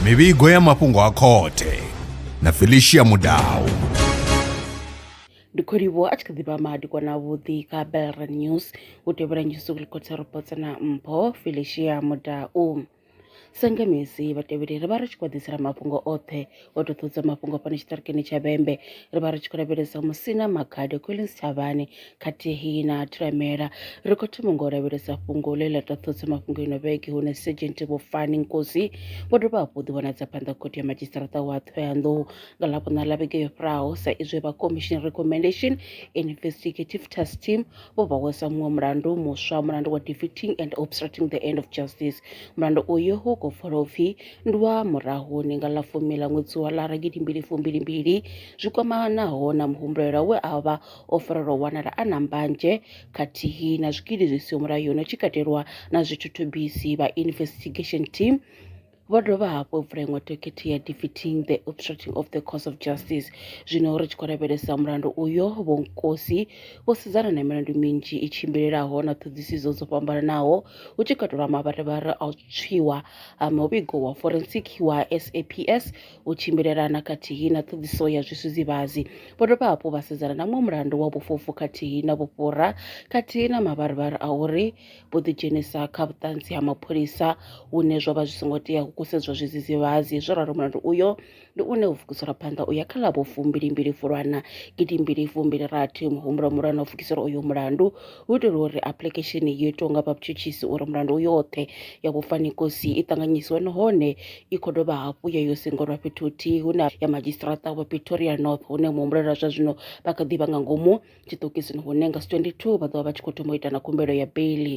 mivhigo ya mafhungo a khothe na felicia mudau ndi khou livhuwa a tshi kha ḓi vha madikwana avhuḓi kha belran news u tevhela nyusi kulikotsa robots na mpho felicia mudau sengemisi vhatevheli ri vha ri tshi khou ḓisela mafhungo oṱhe o tou ṱudza mafhungo fhano tshiṱirikini tsha vhembe ri vha ri tshi khou lavhelesa musina makhade collins thavhani khathihi na thiramela ri khou thoma nga u lavhelesa fhungo ḽe ḽa tou ṱudza mafhungo ino vhege hune sergent vhofani nkosi vho dovha hafhu ḓi vhonadza phanḓa khothe ya madzhisiṱaraṱa wa thohoyandou nga ḽavhuṋa ḽa vhege yo fhiraho sa izwi vha commission recommendation investigative task team vho vha wesa muṅwe mulandu muswa mulandu wa defeating and obstructing the end of justice mulandu uyu hu khou pfala upfhi Ndwa murahuni nga ḽa fumi ḽa ṅwedzi wa lara gidimbili fumbilimbili zwi kwamanaho na muhumbulelwa we a vha o farelwa u wanala a na mbanzhe khathihi na zwikili zwi siho mulayoni hu tshi katelwa na zwithuthubisi vha Investigation Team vho dovha hafhu u vula iṅwe dokhethe ya Defeating the Obstructing of the Course of Justice. Zwino ri tshi khou lavhelesa mulandu uyo, Vho Nkosi vho sedzana na milandu minzhi i tshimbilelaho na ṱhoḓisiso dzo fhambananaho hu tshi katelwa mavharivhari a u tswiwa ha muvhigo wa forensic wa SAPS u tshimbilelana khathihi na ṱhoḓiso ya zwisudzivhadzi. Vho dovha hafhu vha sedzana na muṅwe mulandu wa vhufhufhu khathihi na vhufhura khathihi na mavharivhari a uri vho ḓidzhenisa kha vhuṱanzi ha mapholisa hune zwo vha zwi songo tea u kusedzwa zwidzidzivhadzi zwo ralo mulandu uyo ndi une u vukisela phanḓa u ya kha ḽa vhufumbilimbili Fulwana gidimbili fumbili rathi. Muhumbulo muhulwane u vukisela uyo mulandu hu itela uri apuḽikhesheni yo itwaho nga vhatshutshisi uri mulandu u yoṱhe ya vhufhani kosi i ṱanganyisiwe nahone i khou dovha hafhu ya yo sengolwa fhethu huthihi hune ya madzhisiṱiraṱa wa Pretoria North hune muhumbulelwa zwa zwino vha kha ḓi vha nga ngomu tshiṱokisini hune nga 22 vha ḓovha vha tshi khou thoma u ita na khumbelo ya beiḽi.